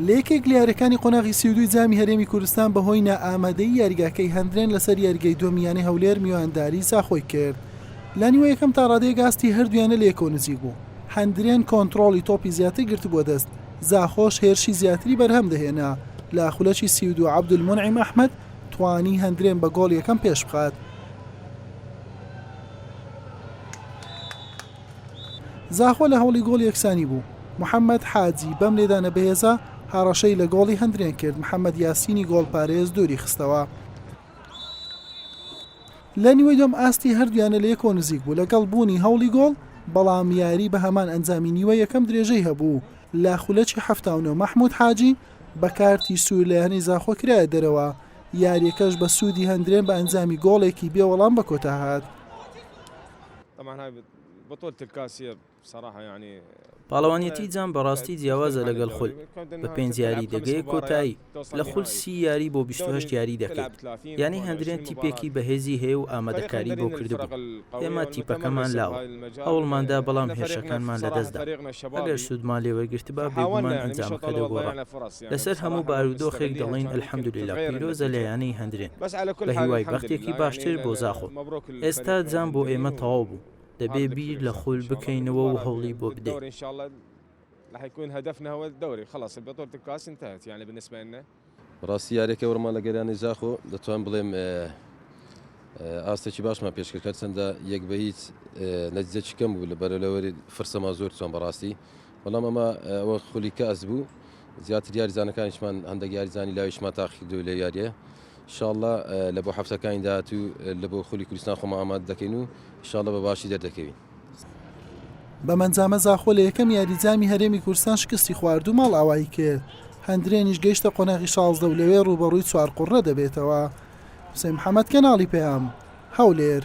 لە یەکێک لە یاریەکانی قۆناغی سی و دووی جامی هەرێمی کوردستان بەهۆی نائامادەی یاریگاکەی هەندرێن لەسەر یاریگەی دووەمی یانەی هەولێر میوانداری زاخۆی کرد لە نیوە یەکەم تا ڕادەیەک ئاستی هەردوویانە لە یەکەوە نزیک بوو هەندرێن کۆنترۆڵی تۆپی زیاتر گرتبووە دەست زاخۆش هێرشی زیاتری بەرهەم دەهێنا لە خولەکی سی و دوو عەبدولمونعیم ئەحمەد توانی هەندرێن بە گۆڵ یەکەم پێش بخات زاخۆ لە هەوڵی گۆڵی یەکسانی بوو، محەمەد حاجی بەم لێدانە بەهێزە هەڕەشەی لە گۆڵی هەندرێن کرد، محەمەد یاسینی گۆڵپارێز دووری خستەوە. لە نیوەی دووەم ئاستی هەردوویانە لە یەکەوە نزیک بوو لەگەڵ بوونی هەوڵی گۆڵ، بەڵام یاری بە هەمان ئەنجامی نیوەی یەکەم درێژەی هەبوو، لە خولەکی حەفتا و نۆ مەحمود حاجی بە کارتی سوور لە یانەی زاخۆ کرایە دەرەوە، یارییەکەش بە سوودی هەندرێن بە ئەنجامی گۆڵێکی بێ وەڵام بە کۆتا هات. پاڵەوانێتی جام بەڕاستی جیاوازە لەگەڵ خول بە پێنج یاری دەگەیە کۆتایی لە خول سی یاری بۆ بیست و هەشت یاری دەکەیت یانی هەندرێن تیپێکی بەهێزی هەیە و ئامادەکاری بۆ کردبوو ئێمە تیپەکەمان لاوە هەوڵماندا بەڵام هێرشەکانمان لەدەستدا ئەگەر سوودمان لێ وەرگرتبا بێگومان ئەنجامەکە دەگۆڕا لەسەر هەموو بارودۆخێک دەڵێین الحمدللە پیرۆزە لە یانەی هەندرێن بەهیوای بەختێکی باشتر بۆ زاخۆ. ئێستا جام بۆ ئێمە تەواو بوو، دەبێ بیر لە خول بکەینەوە و هەوڵی بۆ بدەین. بەڕاستی یارییەکە وەرمان لە گەریاندی زاخۆ دەتوانم بڵێم ئاستێکی باشمان پێشکرد هەرچەندە یەک بە هیچ نەتیجەکی کەم بوو لە بەرەلەوەری فرسەمان زۆر توان بەڕاستی بەڵام ئەمە ئەوە خولی کەئس بوو زیاتر یاریزانەکانیشمان هەندێک یاریزانی لاویشمان تاقیکردو لە یاریە شاءاللە لە بۆ هەفتەکانی داهاتوو لە بۆ خولی کوردستان خۆمان ئامادە دەکەین و شاءاللە بە باشی دەردەکەوین. بەم ئەنجامە زاخۆ لە یەکەم یاری جامی هەرێمی کوردستان شکستی خوارد و ماڵئاوایی کرد، هەندرێنیش گەیشتە قۆناغی شازدە و لەوێ رووبەڕووی چوارقوڕنە دەبێتەوە. حوسێن محەمەد، کەناڵی پەیام، هەولێر.